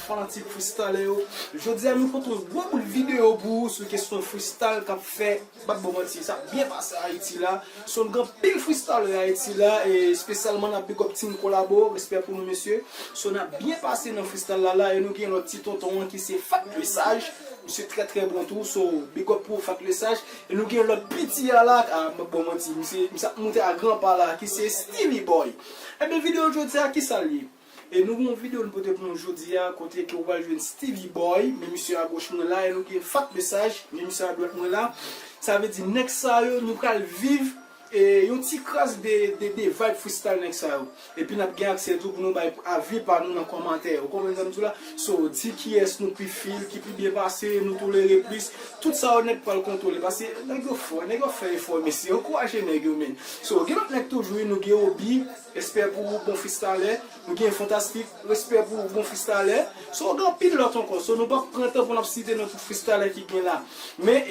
Fanatik Freestallè yo, jodi a nou pote yon gwo bout videyo pou ou sou kesyon freestall k ap fè, m pa t ba w manti, sa ap byen pase Ayiti la. Sonw gen anpil freestallè Ayiti la, espesyalman n ap big up Team Kolabo, respè pou nou mesye. Sonw n ap byen pase nan freestall la la e nou gen lòt ti tonton an ki se Fat Le Sage, misye trè trè bon tou, so big up pou ou Fat Le Sage. E nou gen lòt piti a la, ah m pa t ba w manti, misye ap moute a gran pa la ki se Steely Boy. Ebyen videyo jodi a kisa l ye? E nou gen yon video nou pote pou nou jodi a kote ke ou pral jwenn Steevy Boy, men misye a goch mwen la e nou gen Fat Mesaj, men misye a dwat mwen la. Sa vle di nèg sa yo nou pral viv e yon ti kras de de de vibe freestyle nèg sa yo. Epi nap gen aksè tou pou nou bay avi pa nou nan kòmantè. Ou konprann sa m di w la? So, di kiyès nou pi feel, ki pi byen pase, nou tolere plis. Tout sa yo nèt pral kontwole paske nèg yo fò, nèg yo ap fè efò mesye. Ankouraje nèg yo men. So, gen lòt nèg toujou wi nou gen Oby. Respè pou ou bon fristalè. Nou gen fantastik. Respè pou ou bon fristalè. So gen anpil lòt ankò. So nou pap pran tan pou nap site non tout fristalè ki gen la. Men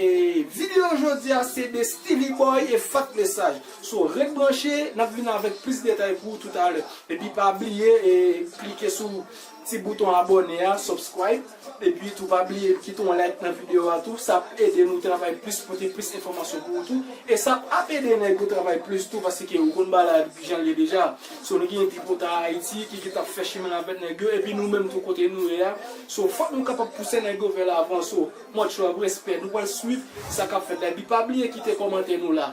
video jodi a se de Steely Boy e Fat Lesaj. So ret branche nap vin avèk plis detay pou ou toutalè. Epi pa bliye klike sou. Ti bouton abòne a, subscribe, epi tou pa bliye kite yon like nan video a tou, sa ap ede nou travay plis pote plis enfòmasyon pou ou tou, e sa ap ede nèg yo travay plis tou paske ou konn bagay la kijan l ye deja, so nou gen tripotay Haiti ki gentan ap fè chimen l avèk nèg yo epi nou menm tou kote nou ye a, so fòk nou kapab pouse nèg yo vè lavan, so much love, respè, nou pral swiv sa kap fèt la epi pa bliye kite kòmantè nou la.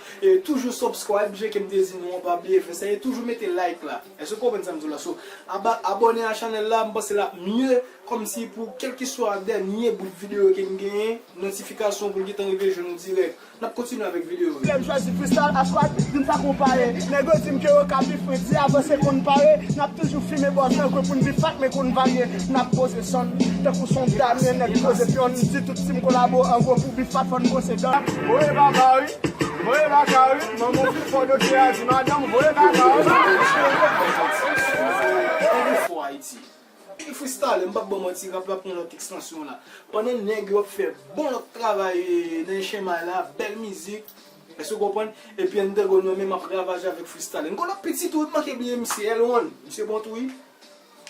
E toujou subscribe je kem te di nou an pa bliye fè sa e toujou mete like la eske w konprann sam di w la so aba abòne a channel la m panse lap mye kòmsi pou kelkeswa dènye bout video kem genyen notifikasyon pou l gentan rive jwenn ou dirèk nap kontinye avèk video yo. Lèm chwazi Crystal a Swag vin pa konpare Nèg yo dim ke yo ka pi fre di avanse konn pare Nap toujou fime bòz nan kwen poun pi fat men konn varye Nap poze sonn tankou son damyen nèg poze pyon Team kolabo an gwo pou bif pat fòn brose dan. Voye baba wi, voye baka wi, manmanw pi fò doktè a di madanm ou voye kaka wi. Anpil fò ayiti. Anpil fristale m pap baw manti rap la pran lòt ekstansyon la pandan nèg yo ap fè bon lòt travay nan chemay la bèl mizik èske ou konprann epi Antagon nan menm ap ravaje avèk fristale n konnen pitit ou wi m manke bliye misye L1 misye bon tou wi.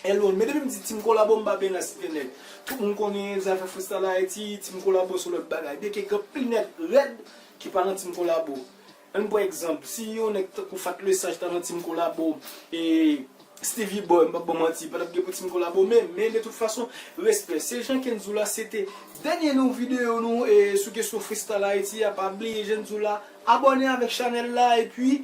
Hello, men depi m di Team Kolabo m pa byen la site nèg. Tout moun konnen zafè freestyle Ayiti, Team Kolabo son lòt bagay. Byenke gen anpil nèg rèd ki pa nan Team Kolabo. An n pran egzanp, si yon nèg tankou Fat Le Sage ta nan Team Kolabo, e Steevy Boy, m p ap ba w manti, pa t ap gen pou Team Kolabo menm. Men de tout fason, respè. Se jan Kenzoula se te dènye nou videyo nou sou kesyon freestyle Ayiti a. Pa bliye Jenzoula abòne avèk chanèl la epi